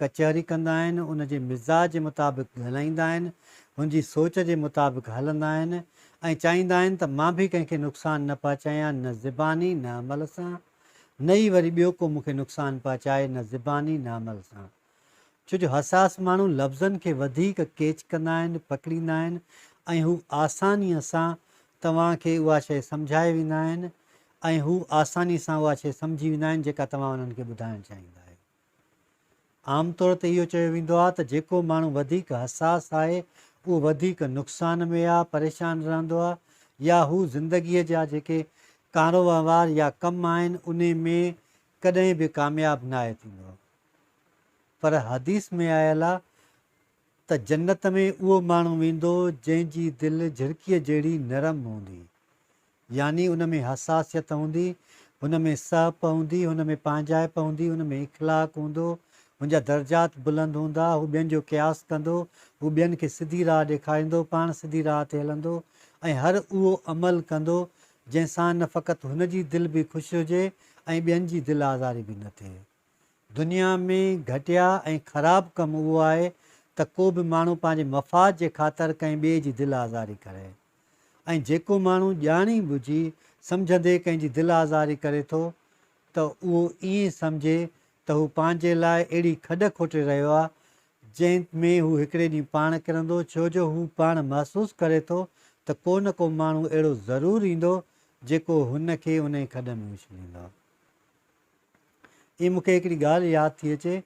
ڪچهري ڪندا آهن، هن جي مزاج جي مطابق ڳالهائيندا آهن، هن جي سوچ جي مطابق هلندا آهن ۽ چاهيندا آهن ته مان به ڪنهن کي نقصان نه پهچايان نه زباني نه عمل سان نه ئي وري ٻيو ڪو مون کي نقصان پهچائي نه زباني نه عمل سان ڇو جو حساس ماڻهو لفظن کي وڌيڪ ڪيچ ڪندا آهن پڪڙيندا آهن ۽ هو آسانيء سان توهان کي اها شيء سمجهائي ويندا آهن ۽ هو آسانيء سان اها شيء سمجهي ويندا آهن جيڪا توهان انهن کي ٻڌائڻ چاهيندا آهيو. عام طور تي اهو چيو ويندو آهي ته جيڪو ماڻهو وڌيڪ حساس آهي اهو وڌيڪ نقصان ۾ يا پريشان رهندو آهي يا هو زندگيء جا جيڪي ڪاروهنوار يا ڪم آهن انهي ۾ ڪڏهن به ڪامياب ناهي ٿيندو پر حديث ۾ آيل آهي ته جنت ۾ اهو ماڻهو ويندو جنهن جي دل جهرڪيء جهڙي نرم هوندي يعني ان ۾ حساسيت هوندي، هن ۾ سهپ هوندي، هن ۾ پنهنجائپ هوندي، هن ۾ اخلاق هوندو، هن جا درجات بلند هوندا، هو ٻين جو قياس ڪندو، هو ٻين کي سڌي راهه ڏيکاريندو، پاڻ سڌي راهه تي هلندو ۽ هر اهو عمل ڪندو، جنهن سان نه فقط هن جي دل به خوش هجي ۽ ٻين جي دل آزاري به نه ٿئي. دنيا ۾ گهٽيا ۽ خراب ڪم اهو آهي ته ڪو به ماڻهو پنهنجي مفاد جي خاطر ڪنهن ٻئي جي دل آزاري ڪري ۽ جيڪو ماڻهو ڄاڻي ٻجهي سمجهندي ڪنهن جي دل آزاري ڪري ٿو ته اهو ائين سمجهي ته هو پنهنجي لاء اهڙي کڏ کوٽي رهيو آهي جنهن ۾ هو هڪڙي ڏينهن پاڻ ڪرندو ڇو جو هو پاڻ محسوس ڪري ٿو ته ڪو نه ڪو ماڻهو اهڙو ضرور ايندو جيڪو هن کي انهي کڏ ۾ اڇليندو. اي مونکي هڪڙي ڳالهه ياد ٿي اچي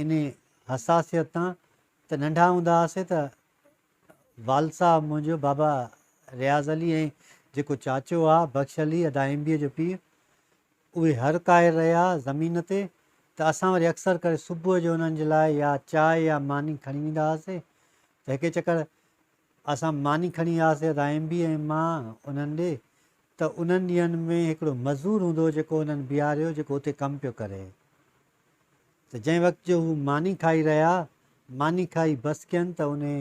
انهي حساسيت تان ته ننڍا هوندا هئاسي ته والد صاحب منهنجو بابا رياض علي ۽ جيڪو چاچو آ بخش علي ادا ايم بي جو پيء اهي هر ڪاهر رهيا زمين تي ته اسان وري اڪثر ڪري صبح جو انهن جي لاء يا چاء يا ماني کڻي ويندا هئاسي ته هڪي چڪر اسان ماني کڻي وياسين رائمبي ۽ مان انهن ڏي ته انهن ڏينهن ۾ هڪڙو مزور هوندو هو جيڪو انهن بيهاريو جيڪو اتي ڪم پيو ڪري ته جنهن وقت جو هو ماني کائي رهيا ماني کائي بس ڪين ته انهي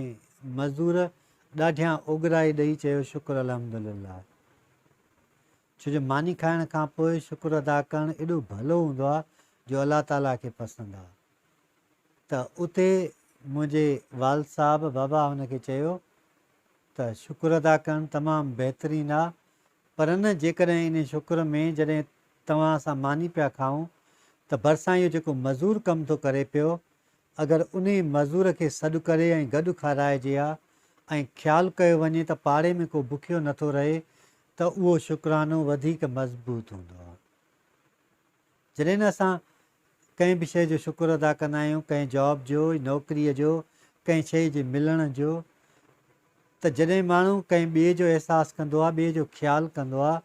مزور ڏاڍيان اوڳرائي ڏئي چيو شڪر الحمدلله ڇو جو ماني کائڻ کان پوء شڪر ادا ڪرڻ ايڏو ڀلو هوندو آ جو الله تعالي کي پسند آ ته اتي منهنجي والد صاحب بابا هن کي چيو ته شڪر ادا ڪرڻ تمام بهترين آ پر نه جيڪڏهن انهي شڪر ۾ جڏهن توهان اسان ماني پيا کائون ته ڀرسان اهو جيڪو مزور ڪم ٿو ڪري پيو اگر انهي مزور کي سڏ ڪري ۽ گڏ کارائجي ها ۽ خيال ڪيو وڃي ته پاڙي ۾ ڪو بکيو نٿو رهي ته اهو شڪرانو وڌيڪ مضبوط هوندو آ. جڏهن اسان ڪنهن به شيء جو شڪر ادا ڪندا آهيون، ڪنهن جاب جو، نوڪريء جو، ڪنهن شيء جي ملڻ جو، ته جڏهن ماڻهو ڪنهن ٻئي جو احساس ڪندو آهي، ٻئي جو خيال ڪندو آهي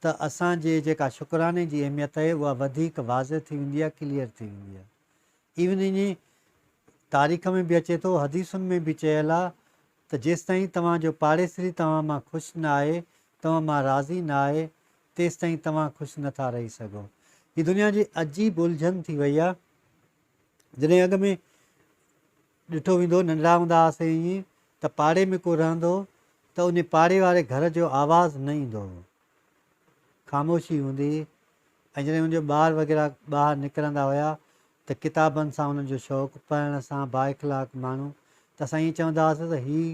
ته اسان جي جيڪا شڪراني جي اهميت آهي اها وڌيڪ واضح ٿي ويندي آهي، ڪليئر ٿي ويندي آهي. ايون اڃي تاريخ ۾ به اچي ٿو، حديثن ۾ به چيل آهي ته جيستائين توهان جو پاڙيسري توهان مان خوش نه آهي، توهان مان راضي نه آهي، تيستائين توهان خوش نه ٿا رهي سگهو. هي دنيا جي عجيب الجهن ٿي وئي آ. جڏهن اڳ ۾ ڏٺو ويندو هو، ننڍڙا هوندا هئاسين ائين ته پاڙي ۾ ڪو رهندو هو ته انهي پاڙي واري گهر جو آواز نه ايندو هو. خاموشي هوندي هئي ۽ جڏهن ان جو ٻار وغيره ٻاهر نڪرندا هيا ته ڪتابن سان انهن جو شوق، پڙهڻ سان بااخلاق ماڻهو ته اسان ائين چوندا هئاسين ته هي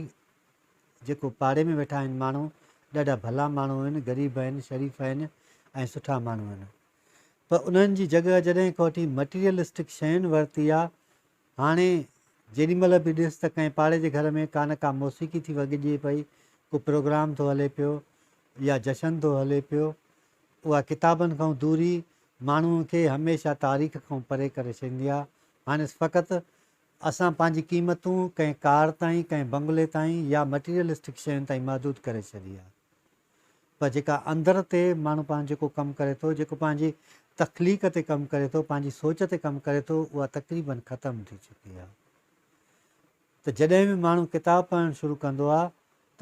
جيڪو پاڙي ۾ ويٺا آهن ماڻهو ڏاڍا ڀلا ماڻهو آهن غريب آهن شريف آهن ۽ سٺا ماڻهو آهن پر انهن جي جڳهه جڏهن کان وٺي مٽيريلسٽڪ شين ورتي آ هاڻي جيڏي مهل به ڏس ته ڪنهن پاڙي جي گهر ۾ ڪا نه ڪا موسيقي ٿي وڳجي پئي ڪو پروگرام ٿو هلي پيو يا جشن ٿو هلي پيو اها ڪتابن کان دوري ماڻهو کي هميشه تاريخ کان پري ڪري ڇڏيندي آ هاڻس فقط اسان پنهنجي قيمتون ڪنهن ڪار تائين، ڪنهن بنگلي تائين يا مٽيريلسٽڪ شين تائين محدود ڪري ڇڏي آهي. پر جيڪا اندر تي ماڻهو پاڻ جيڪو ڪم ڪري ٿو، جيڪو پنهنجي تخليق تي ڪم ڪري ٿو، پنهنجي سوچ تي ڪم ڪري ٿو، اها تقريبن ختم ٿي چڪي آهي. ته جڏهن به ماڻهو ڪتاب پڙهڻ شروع ڪندو آهي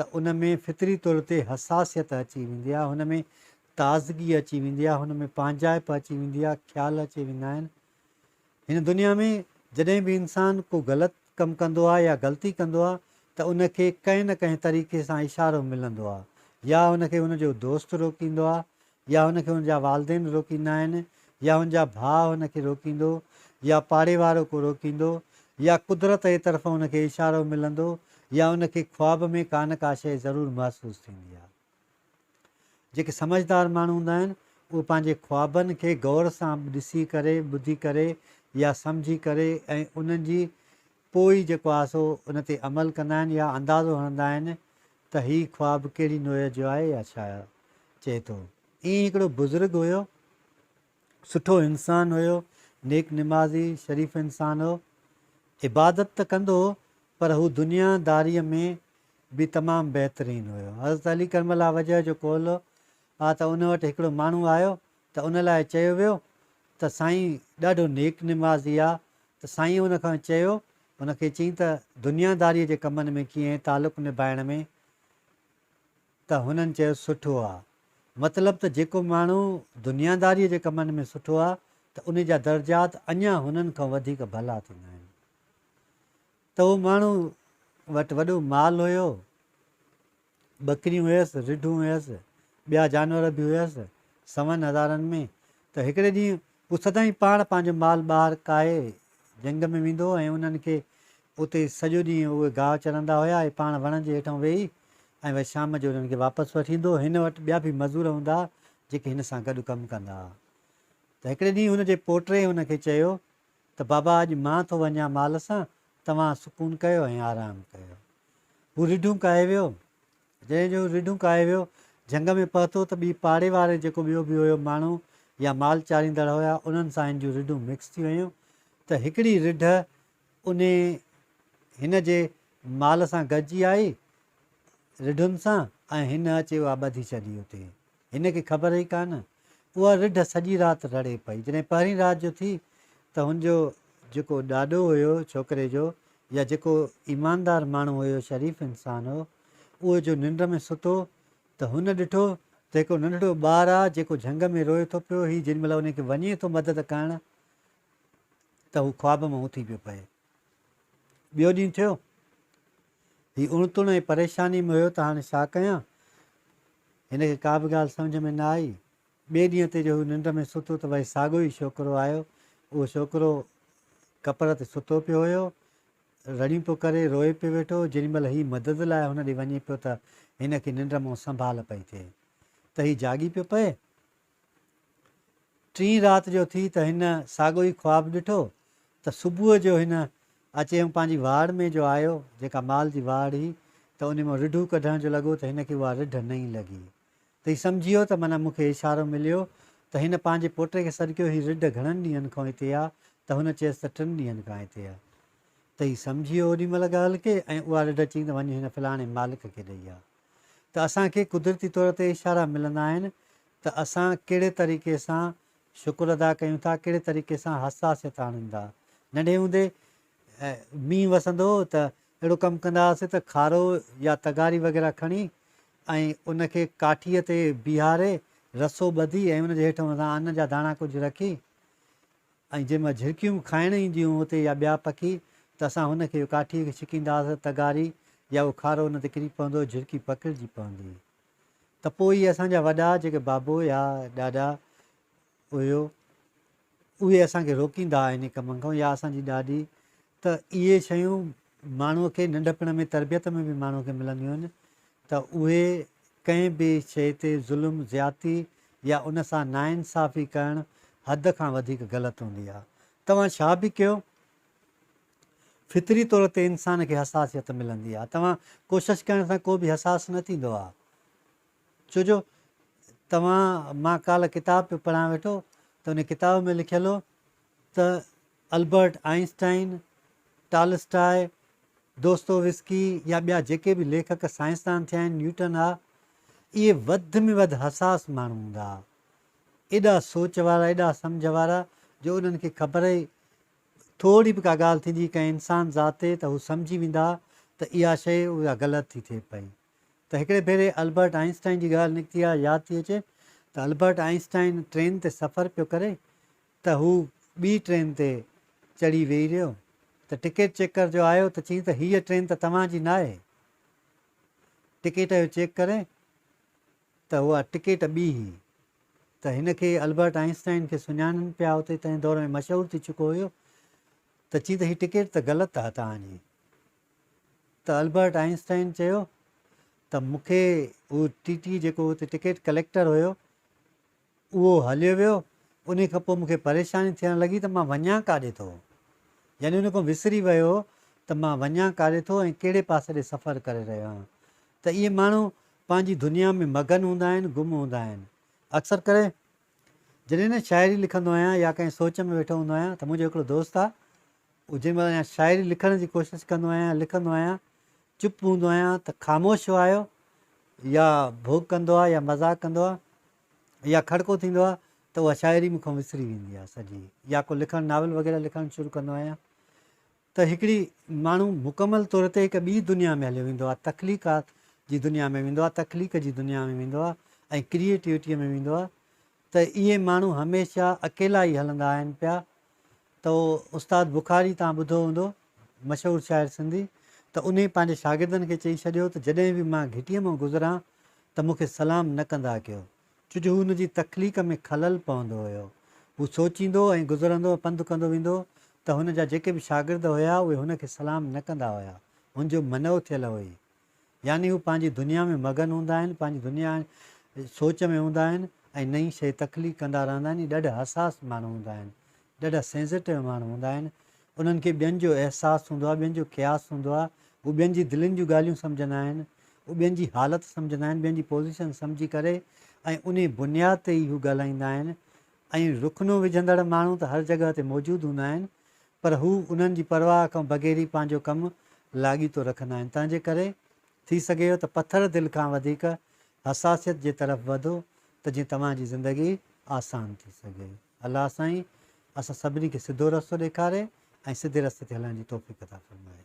ته ان ۾ فطري طور تي حساسيت اچي ويندي آهي، هن ۾ تازگي اچي ويندي آهي، هن ۾ پنهنجائپ اچي ويندي آهي، خيال اچي ويندا آهن ۽ هن دنيا ۾ جڏهن به انسان ڪو غلط ڪم ڪندو آهي يا غلطي ڪندو آهي ته ان کي ڪنهن نه ڪنهن طريقي سان اشارو ملندو آهي يا هن کي هن جو دوست روڪيندو آهي يا هن کي هن جا والدين روڪيندا آهن يا هن جا ڀاء هن کي روڪيندو يا پاڙي وارو ڪو روڪيندو يا قدرت جي طرفان هن کي اشارو ملندو يا ان کي خواب ۾ ڪا نه ڪا شيء ضرور محسوس ٿيندي آهي. جيڪي سمجهدار ماڻهو هوندا آهن، اهي پنهنجي خوابن کي غور سان ڏسي ڪري، ٻڌي ڪري يا سمجهي ڪري ۽ انهن جي پوء ئي جيڪو آهي سو ان تي عمل ڪندا آهن يا اندازو هڻندا آهن ته هي خواب ڪهڙي نوعيت جو آهي يا ڇا آهي. چئي ٿو، ائين هڪڙو بزرگ هيو، سٺو انسان هيو، نيڪ نمازي، شريف انسان هو. عبادت ته ڪندو هو پر هو دنيا داريء ۾ به تمام بهترين هيو. حضرت علي ڪرم الله وجهه جو قول هو آ ته ان وٽ هڪڙو ماڻهو آيو ته ان لاء چيو ويو ته سائين ڏاڍو نيڪ نمازي آ ته سائينء ان کان چيو ان کي چئين ته دنيا داريء جي ڪمن ۾ ڪيئن تعلق نڀائڻ ۾ ته هنن چيو سٺو آ. مطلب ته جيڪو ماڻهو دنياداريء جي ڪمن ۾ سٺو آ ته ان جا درجات اڃا هنن کان وڌيڪ ڀلا ٿيندا آهن. ته اهو ماڻهو وٽ وڏو مال هيو، ٻڪريون هيس، رڍون هيس، ٻيا جانور به هيس، سون هزارن ۾ ته هڪڙي ڏينهن هو سدائين پاڻ پنهنجو مال ٻاهر ڪاهي جهنگ ۾ ويندو هو ۽ انهن کي اتي سڄو ڏينهن اهي گاهه چرندا هيا اهي پاڻ وڻن جي هيٺئون ويهي ۽ وئي شام جو انهن کي واپس وٺي ايندو هن وٽ ٻيا به مزور هوندا ها جيڪي هن سان گڏ ڪم ڪندا ها ته هڪڙي ڏينهن هن جي پوٽري هن کي چيو ته بابا اڄ مان ٿو وڃان مال سان توهان سڪون ڪيو ۽ آرام ڪيو هو رڍون ڪاهي ويو جنهن جون رڍون ڪاهي ويو، جهنگ ۾ پهتو ته ٻي پاڙي واري جيڪو ٻيو به هيو ماڻهو يا مال چاريندڙ هيا انهن سان هن جون رڍون مڪس ٿي ويون ته هڪڙي رڍ انهي هن جي مال سان گڏجي آئي رڍن سان ۽ هن اچي اها ٻڌي ڇڏي اتي هن کي خبر هئي ڪا نه. اها رڍ سڄي رات رڙي پئي. جڏهن پهرين رات جو ٿي ته هن جو جيڪو ڏاڏو هيو ڇوڪري جو يا جيڪو ايماندار ماڻهو هيو شريف انسان هو اهو جو ننڊ ۾ ستو ته هن ڏٺو ته هڪڙو ننڍڙو ٻار آ جيڪو جهنگ ۾ روئي ٿو پيو هي جيڏي مهل ان کي وڃي ٿو مدد ڪرڻ ته هو خواب مان اٿي پيو پئي. ٻيو ڏينهن ٿيو، هي اڻ تڻ ۽ پريشانيء ۾ هيو ته هاڻي ڇا ڪيان؟ هن کي ڪا به ڳالهه سمجهه ۾ نه آئي. ٻئي ڏينهن تي جو هو ننڊ ۾ ستو ته وري ساڳيو ئي ڇوڪرو آيو. اهو ڇوڪرو ڪپر تي ستو پيو هيو. رڙيون پيو ڪري، روئي پيو ويٺو هو. جيڏي مهل هي مدد لاء هن ڏي وڃي پيو ته هن کي ننڊ مان سنڀال پئي ٿئي ته هي جاڳي پيو پئي. ٽين رات جو ٿي ته هن ساڳو ئي خواب ڏٺو ته صبح جو هن اچي ۽ پنهنجي واڙ ۾ جو آيو جيڪا مال جي واڙ هئي ته ان مان رڍون ڪڍڻ جو لڳو ته هن کي اها رڍ نئين لڳي ته هي سمجهيو ته معنيٰ مون کي اشارو مليو ته هن پنهنجي پوٽي کي سڏڪيو هي رڍ گهڻن ڏينهن کان هتي آ ته هن چيس ته ٽن ڏينهن کان هتي آ ته هي سمجهيو اوڏي مهل ڳالهه کي ۽ اها رڍ چئي ته وڃ هن فلاڻي مالڪ کي ڏئي آ. ته اسان کي قدرتي طور تي اشارا ملندا آهن ته اسان ڪهڙي طريقي سان شڪر ادا ڪيون ٿا، ڪهڙي طريقي سان حساسيت آڻيون ٿا. ننڍي هوندي مينهن وسندو هو ته اهڙو ڪم ڪندا هئاسين ته کارو يا تغاري وغيره کڻي ۽ ان کي ڪاٺيء تي بيهاري رسو ٻڌي ۽ ان جي هيٺ مٿان ان جا داڻا ڪجهه رکي ۽ جنهن مان جهرڪيون به کائڻ اينديون هيون اتي يا ٻيا پکي ته اسان هن کي ڪاٺيء کي ڇڪينداس تغاري يا اهو کارو ان تي ڪري پوندو جهرڪي پکڙجي پوندي ته پوء اهي اسان جا وڏا جيڪي بابو يا ڏاڏا هيو اهي اسان کي روڪيندا انهي ڪم کان يا اسان جي ڏاڏي ته اهي شيون ماڻهوء کي ننڍپڻ ۾ تربيت ۾ به ماڻهوء کي ملنديون آهن ته اهي ڪنهن به شيء تي ظلم، زيادتي يا ان سان ناانصافي ڪرڻ حد کان وڌيڪ غلط هوندي آهي. توهان ڇا به ڪيو، فطري طور تي انسان کي حساسيت ملندي آهي. توهان ڪوشش ڪرڻ سان ڪو به حساس نه ٿيندو آهي. ڇو جو توهان، مان ڪالهه ڪتاب پيو پڙهان ويٺو ته ان ڪتاب ۾ لکيل هو، ته البرٽ آئنسٽائن، ٽالسٽاء، دوستويسڪي يا ٻيا جيڪي به ليکڪ سائنسدان ٿيا آهن، نيوٽن ها، اهي وڌ ۾ وڌ حساس ماڻهو هوندا ها. ايڏا سوچ وارا، ايڏا سمجهه وارا جو انهن کي خبر ئي ٿورڙي به ڪا ڳالهه ٿيندي ڪنهن انسان ذات تي ته هو سمجهي ويندا ها ته اها شيء اها غلط ٿي ٿئي پئي. ته هڪڙي ڀيري البرٽ آئنسٽائن جي ڳالهه نڪتي آهي، ياد ٿي اچي ته البرٽ آئنسٽائن ٽرين تي سفر پيو ڪري، ته هو ٻي ٽرين تي چڙهي ويهي رهيو ته ٽڪيٽ چيڪر جو آيو ته چيائين ته هيء ٽرين ته توهان جي ناهي، ٽڪيٽ اهو چيڪ ڪري ته اها ٽڪيٽ ٻي هئي ته هن کي البرٽ آئنسٽائن کي سڃاڻن پيا اتي تنهن دور ۾ مشهور ٿي چڪو هيو ته چيائين ته هي ٽڪيٽ ته غلط آهي توهان جي ته البرٽ آئنسٽائن چيو ته مون کي هو ٽي ٽي جيڪو اتي ٽڪيٽ ڪليڪٽر هيو اهو هليو ويو، انهي کان پوء مون کي پريشاني ٿيڻ لڳي ته مان وڃان ڪاڏي ٿو؟ يعني ان کان وسري ويو ته مان وڃان ڪاڏي ٿو ۽ ڪهڙي پاسي ڏي سفر ڪري رهيو آهيان. ته اهي ماڻهو پنهنجي دنيا ۾ مگن هوندا آهن، گم هوندا آهن. اڪثر ڪري جڏهن نه شاعري لکندو آهيان يا ڪنهن سوچ ۾ ويٺو هوندو آهيان ته منهنجو هڪڙو دوست آهي، هو جنهن مهل اها شاعري لکڻ جي ڪوشش ڪندو آهيان يا لکندو آهيان، چپ هوندو آهيان ته خاموش وايو يا ڀوڳ ڪندو آهي يا مذاق ڪندو آهي يا کڙڪو ٿيندو آهي ته اها شاعري مون کان وسري ويندي آهي سڄي يا ڪو لکڻ ناول وغيره لکڻ شروع ڪندو آهيان ته هڪڙي ماڻهو مڪمل طور تي هڪ ٻي دنيا ۾ هليو ويندو آهي تخليقات جي دنيا ۾ ويندو آهي تخليق جي دنيا ۾ ويندو آهي ۽ ڪريئيٽوٽيء ۾ ويندو آهي ته اهي ماڻهو هميشه اڪيلا ئي هلندا آهن پيا تو استاد بخاري تان ٻڌو هوندو مشهور شاعر سنڌي ته انهي پنهنجي شاگردن کي چئي ڇڏيو ته جڏهن به مان گهٽيء مان گذران ته مون کي سلام نه ڪندا ڪيو چج هن جي تخليق ۾ خلل پوندو هيو هو سوچيندو ۽ گذرندو ۽ پنڌ ڪندو ويندو ته هن جا جيڪي به شاگرد هيا اهي هن کي سلام نه ڪندا هيا هن جو منئو ٿيل هئي يعني هو پنهنجي دنيا ۾ مگن هوندا آهن، پنهنجي دنيا ۽ سوچ ۾ هوندا آهن ۽ نئين شيء تخليق ڪندا رهندا آهن. اهي ڏاڍا حساس ماڻهو هوندا آهن، ڏاڍا سينسيٽو ماڻهو هوندا آهن. انهن کي ٻين جو احساس هوندو آهي، ٻين جو قياس هوندو آهي. هو ٻين جي دلين جون ڳالهيون سمجهندا آهن، هو ٻين جي حالت سمجهندا آهن، ٻين جي پوزيشن سمجهي ڪري ۽ انهي بنياد تي ئي هو ڳالهائيندا آهن ۽ رخنو وجهندڙ ماڻهو ته هر جڳهه تي موجود هوندا آهن پر هو انهن جي پرواهه کان بغير ئي پنهنجو ڪم لاڳيتو رکندا آهن، تنهن جي ڪري ٿي سگهي ٿو ته پٿر دل کان وڌيڪ حساسيت جي طرف وڌو ته جيئن توهان جي زندگي آسان ٿي سگهي. الله سائين اسان سڀني کي سڌو رستو ڏيکاري ۽ سڌي رستي تي هلڻ جي توفيق عطا فرمائي.